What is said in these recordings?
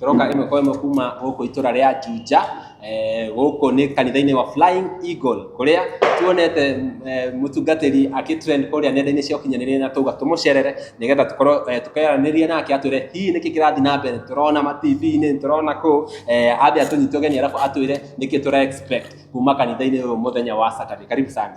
tũroka ĩmwe kwa ĩmwe kuma gũkũ itũra rĩa Juja eh, gũkũ nĩ kanitha-inĩ wa Flying Eagle kũrĩa tuonete eh, mũtungatĩri agĩtrend kũrĩa nenda-inĩ cia ũkinyanĩria na tauga tũmũcerere nĩgetha tũkorwo eh, tũkeranĩria nake atwĩre hihi nĩkĩ kĩrathiĩ na mbere tũrona ma TV-inĩ tũrona kũ eh, ambe atũnyite ũgeni arabu atwĩre nĩkĩ tũra expect kuma kanitha-inĩ ũyũ mũthenya wa Saturday karibu sana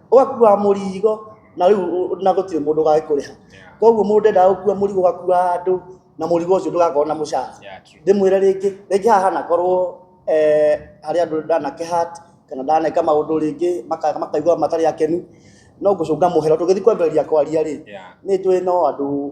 ũgakua mũrigo na rĩu ũ- na gũtirĩ mũndũ ũgagĩkũrĩha Yeah. koguo mũndũ endaga gũkua mũrigo ũgakua andũ na mũrigo ũcio ndũgakorwo na mũcara Yeah, true. ndĩmwĩre rĩngĩ rĩngĩ haha hanakorwo eh, harĩ andũ ndanakehat kana ndaneka maũndũ rĩngĩ maka- makaigua matarĩ akenu no ngũcũnga mũhera tũgĩthiĩ kwambĩrĩria kwaria rĩ Yeah. nĩ njũĩ no andũ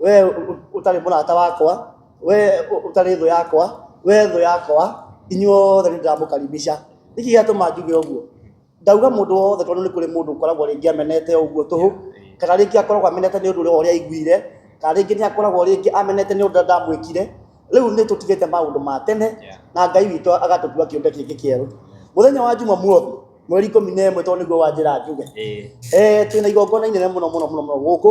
we utarĩ mũrata wakwa we utarĩ thũ yakwa we thũ yakwa inyuothe nĩ ndĩramũkaribisha nĩkĩ gĩatũma njuge ũguo ndauga mũndũ wothe tondũ nĩ kũrĩ mũndũ ũkoragwo rĩngĩ amenete ũguo tũhũ kana rĩngĩ akoragwo amenete nĩ ũndũ ũrĩa ũrĩa aiguire kana rĩngĩ nĩ akoragwo rĩngĩ amenete nĩ ũndũ ndamwĩkire rĩu nĩ tũtigĩte maũndũ ma tene na ngai witũ agatũtua kĩũmbe kĩngĩ kĩerũ mũthenya wa njuma muothi mweri ikũmi na ĩmwe tondũ nĩguo wanjĩra njuge eh twĩna igongona inene mũno mũno mũno mũno gũkũ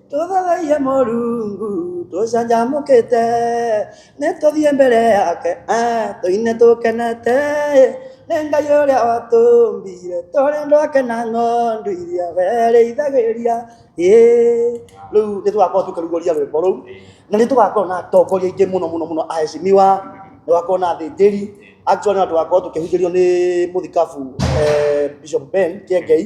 tũtharaia moru tũcanjamũkĩte nĩ tũthiĩ mbere yake ah, tũine tũkenete nĩ ngai ũrĩa watũmbire tũrĩ andũ ake na ng'ondu iria werĩithagĩria ĩ rĩu nĩ tũgakorwo tũkĩrugũria rwĩmbo rũu na nĩ tũgakorwo na atongoria aingĩ mũno mũno mũno aheshimiwa nĩ tũgakorwo na athĩnjĩri actually na tũgakorwo tũkĩhunjĩrio nĩ mũthikabu eh, bishop ben kĩengei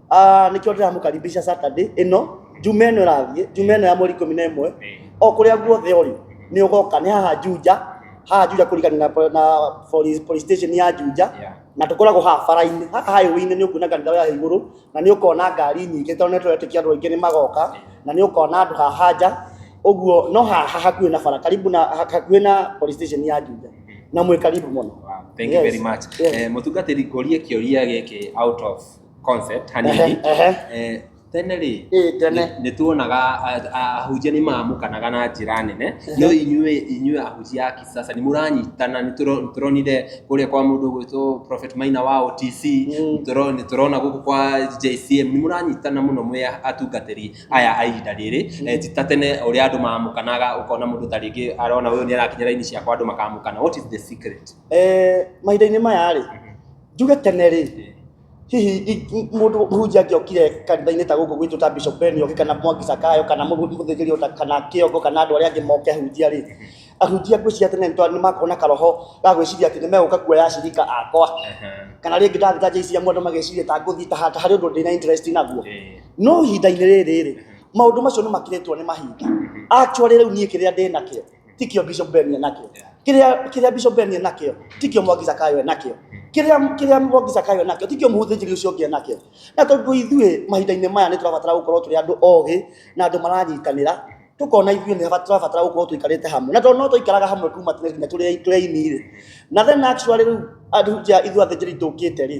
Ah, nĩkĩo ndĩramũkaribisha Saturday ĩno njuma ĩno ĩrathiĩ njuma ĩno ya mweri ikũmi na ĩmwe o kũrĩa guothe ũrĩ nĩ ũgoka nĩ haha Juja haha Juja kũrigania na, po- na police, police station ya Juja Yeah. na tũkoragwo haha bara-inĩ haha highway-inĩ nĩ ũkuona kanitha ya igũrũ na nĩ ũkona ngari nyingĩ tondũ nĩ tũretĩkia andũ aingĩ nĩ magoka na nĩ ũkona andũ haha nja ũguo no haha hakuhĩ na bara karibu na hakuhĩ na police station ya Juja na mwĩ karibu mũno Wow, thank you Yes. very much Yes. Eh, mũtungatĩri ngũrie kĩũria gĩkĩ out of concept hanini Ehe, ehe. Eh, tene rĩ Ĩ, tene. nĩ- nĩ tuonaga a- a- ahunjia nĩ mamũkanaga na njĩra nene no inyuĩ inyuĩ ahunjia a kisasa nĩ mũranyitana nĩ tũro- nĩ tũronire kũrĩa kwa mũndũ gwĩtwo prophet maina wa otc Mm. tũro- nĩ tũrona gũkũ kwa jcm nĩ mũranyitana mũno mwĩ atungatĩri aya a ihinda rĩrĩ Eh, ti ta tene ũrĩa andũ mamũkanaga ũkona mũndũ ta rĩngĩ arona ũyũ nĩ arakinya raini ciakwa andũ makamũkana what is the secret Eh, mahinda-inĩ maya rĩ njuge tene rĩ hihi mundu muhunjia ngiokire kanitha-inĩ ta guku gwitũ ta bishop ben oke kana mwangi sakayo kana muthigiri ota kana kiongo kana andu aria angi moke hunjia ri ahunjia ngwiciria tene ni makona karoho ga gwiciria ati ni meguka kuoya acirika akwa kana ringi ndathita jecia mundu mageciria ta nguthi ta hata hari undu ndina interest naguo no ihinda-inĩ rĩrĩ rĩ maundu macio ni makiritwo ni mahinda actually riu nie kiria ndinakio tikio bishop ben enakio kiria kiria bishop ben enakio tikio mwagiza kayo enakio kiria kiria mwagiza kayo enakio tikio muhuthinjiri ucio ngi enakio na tondu ithuĩ mahinda-inĩ maya nĩ tũrabatara gũkorwo tũrĩ andũ ogĩ na andũ maranyitanĩra tũkona ithuĩ nĩ haba- tũrabatara gũkorwo tũikarĩte hamwe na tondũ no tũikaraga hamwe kuma tene nginya tũrĩ tũrĩ aini-rĩ na then actually rĩu andũ ja ithuĩ athĩnjĩri tũkĩte-rĩ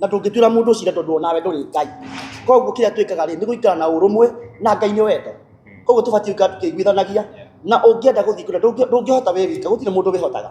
na ndũngĩtuĩra mũndũ cira tondũ onawe ndũrĩ ngai koguo kĩrĩa twĩkaga rĩ nĩ gũikara na ũrũmwe na ngai nĩ wendo koguo tũbatiĩ gũikara tũkĩiguithanagia na ũngĩenda gũthiĩ kũrĩa ndũngĩ- ndũngĩhota wĩ wika gũtirĩ mũndũ wĩhotaga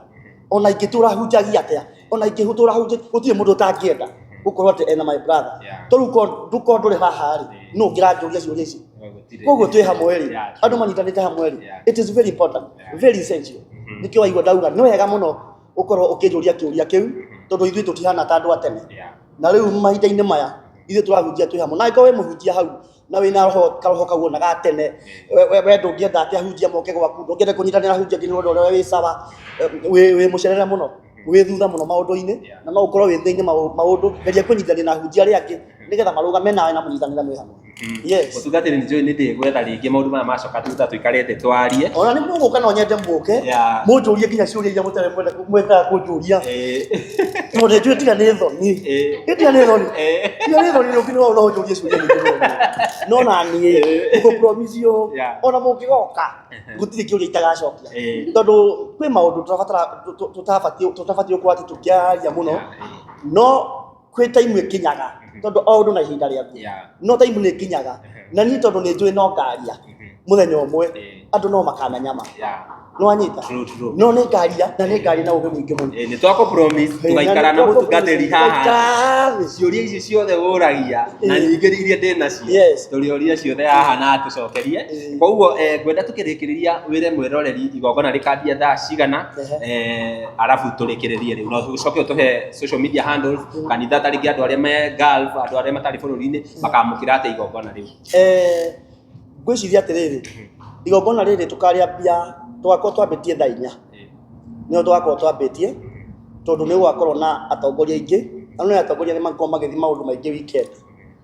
ona ingĩtũra hunjagia atĩa ona ingĩtũra hunjagia gũtirĩ mũndũ ũtangĩenda gũkorwo atĩ ena my brother Yeah. to rĩu ko- ndũ- ko ndũrĩ haha rĩ Yeah. nũ ũngĩranjũria ciũria ici Gũtirĩ. koguo twĩ hamwe rĩ Yeah. andũ manyitanĩte hamwe rĩ Yeah. it is very important Yeah. very essential Mhm. nĩkĩo waigua ndauga nĩ wega mũno ũkorwo ũkĩnjũria kĩũria kĩu tondũ ithuĩ tũtihana ta andũ a tene Yeah. na rĩu mahinda-inĩ maya ithuĩ tũrahunjia twĩ hamwe na angĩkorwo wĩ mũhunjia hau na wĩna roho karoho kau ona ga tene we- we we ndũngĩenda atĩ ahunjia moke gwaku ndũngĩenda kũnyitanĩra ahunjia nginya ũndũ ũrĩa wĩ sawa eh, wĩ wĩ mũcerere mũno wĩ thutha mũno maũndũ-inĩ Yeah. na no ũkorwo wĩ thĩinĩ maũndũ geria kũnyitanĩra na ahunjia arĩa angĩ nĩgetha marũgame nawe na mũnyitanĩra mwĩ hamwe Mm. Yes. Gũtunga atĩ nĩnjũĩ nĩ ndĩgwetha rĩngĩ maũndũ maya macoka tuta tũikare thĩ twarie. Ona nĩ mũgũka no nyende mũke. Yeah. Mũnjũrie nginya ciũria iria mũtarĩ mwenda mwenda kũnjũria. Eh. Tondũ nĩ njũĩ tiga nĩ thoni. Eh. Nĩ tiga nĩ thoni. Eh. Tiga nĩ thoni rĩngĩ no no ũnjũrie ciũria nyingĩ mũno. No na niĩ Eh. ngũ promise you Yeah. ona mũngĩgoka gũtirĩ kĩũria itagacokia. Eh. Tondũ kwĩ maũndũ tũrabatara tũ- tũ- tũtabatiĩ tũtabatiĩ gũkorwo atĩ tũkĩaria mũno. Yeah. No kwä taimu ä kinyaga Mhm. tondå o å ndå na ihinda rä aku Yeah. no taimu nä kinyaga Mhm. na niä tondå nä njå no ngaria Mhm. må thenya å mwe Eh, andå no makana nyama yeah. nä wanyita True, true. no nä ngaria na nä ngaria na å gä må ingä må Eh, nĩ twakå promise tũgaikara na mũtungatĩri haha ciũria ici ciothe ũragia na Eh. nyingĩ iria ndĩ nacio Yes. tũrĩoria ciothe haha na tũcokerie Eh. koguo eh, ngwenda tũkĩrĩkĩrĩria wĩre mwĩroreri igongona rĩkambia thaa cigana Ehe. eh, arabu tũrĩkĩrĩrie rĩu no tũcoke ũtũhe social media handles kanitha ta rĩngĩ andũ arĩa me Gulf andũ arĩa matarĩ bũrũri-inĩ makamũkĩra atĩa igongona rĩu Eh, ngwĩciria atĩrĩrĩ igongona rĩrĩ tũkarĩambia tũgakorwo twambĩtie thaa inya nĩo tũgakorwo twambĩtie tondũ nĩ gũgakorwo na atongoria aingĩ na nĩ atongoria nĩ makorwo magĩthiĩ maũndũ maingĩ weekend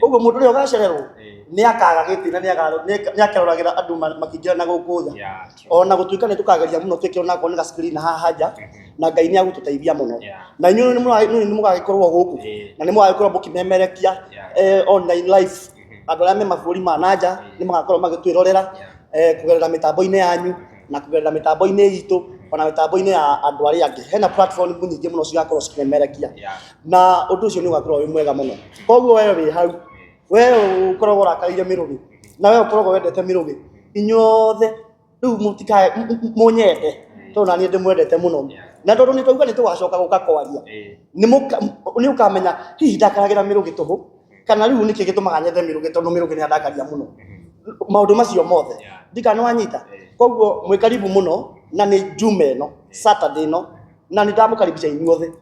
koguo mũndũ ũrĩa ũgacererwo nĩ akaga gĩtĩ na nĩ akeroragĩra andũ makĩingĩra na gũkũ tha ona gũtuĩka nĩ tũkageria mũno twĩke ona akorwo nĩ ga screen haha nja na ngai nĩ agũtũteithia mũno na inyuĩ nĩ mũgagĩkorwo gũkũ na nĩ mũgagĩkorwo mũkĩmemerekia eh, online live mm-hmm. andũ arĩa me mabũrũri ma na nja nĩ magakorwo magĩtwĩrorera eh, kũgerera mĩtambo-inĩ yanyu mm-hmm. na kũgerera mĩtambo-inĩ itũ ona mĩtambo-inĩ ya andũ arĩa angĩ hena platform nyingĩ mũno cigakorwo cikĩmemerekia na undu ucio ni ugakorwo wi mwega muno koguo wewe wi hau wewe ukoragwo urakarire mirugi na wewe ukoragwo wendete mirugi inyuothe riu mutikae munyende tondu nanie ndimwendete muno na tondu ni twauga ni tugacoka guka kwaria ni ukamenya hihi ndakaragira mirugi tuhu kana riu niki gitumaga nyende mirugi tondu mirugi ni andakaria muno maundu macio mothe ndikana wanyita koguo mwikaribu muno na ni juma ino saturday ino na nä ndamå karibisha inyuothe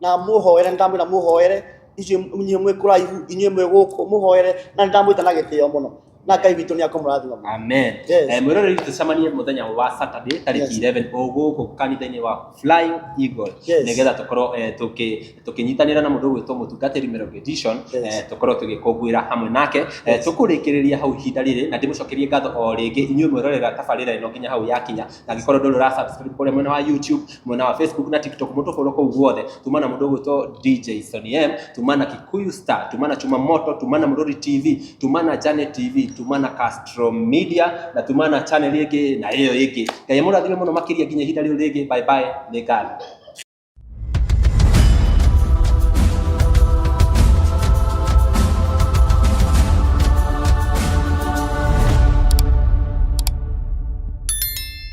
na muhoere nindamwä na muhoere inyuä mwä kå raihu inyuä mwä gå kå muhoere na nindamwä ta na gä tä o må no na ngai witå nä akamå rathima må amen Yes. Eh, mwĩroreri tũcemanie mũthenya wa saturday Yes. tarĩki 11 ũgũkũ kanitha-inĩ wa flying eagle Yes. nĩgetha tũkorwo eh, tũkĩ- tũkĩnyitanĩra na mũndũ ũgwĩtwo mũtungatĩri Mĩrongo edition Yes. eh, tũkorwo tũgĩkũngũĩra hamwe nake Eh, Yes. tũkũrĩkĩrĩria hau ihinda rĩrĩ na ndĩmũcokerie ngatho o rĩngĩ inyuĩ mwĩrorera tabarĩra ĩno nginya hau yakinya na angĩkorwo ndũrĩ ũra subscribe kũrĩa mwena wa youtube mwena wa facebook na tiktok mũndũ follow kũu guothe tuma na mũndũ ũgwĩtwo dj Sonny M tuma na kikuyu star tuma na chuma moto tuma na mũrũri tv tuma na jane tv tuma na castro media na tuma na channel ĩngĩ na ĩyo ĩngĩ ngai mũrathime mũno makĩria nginya ihinda rĩu rĩngĩ bye bye nĩ ngatho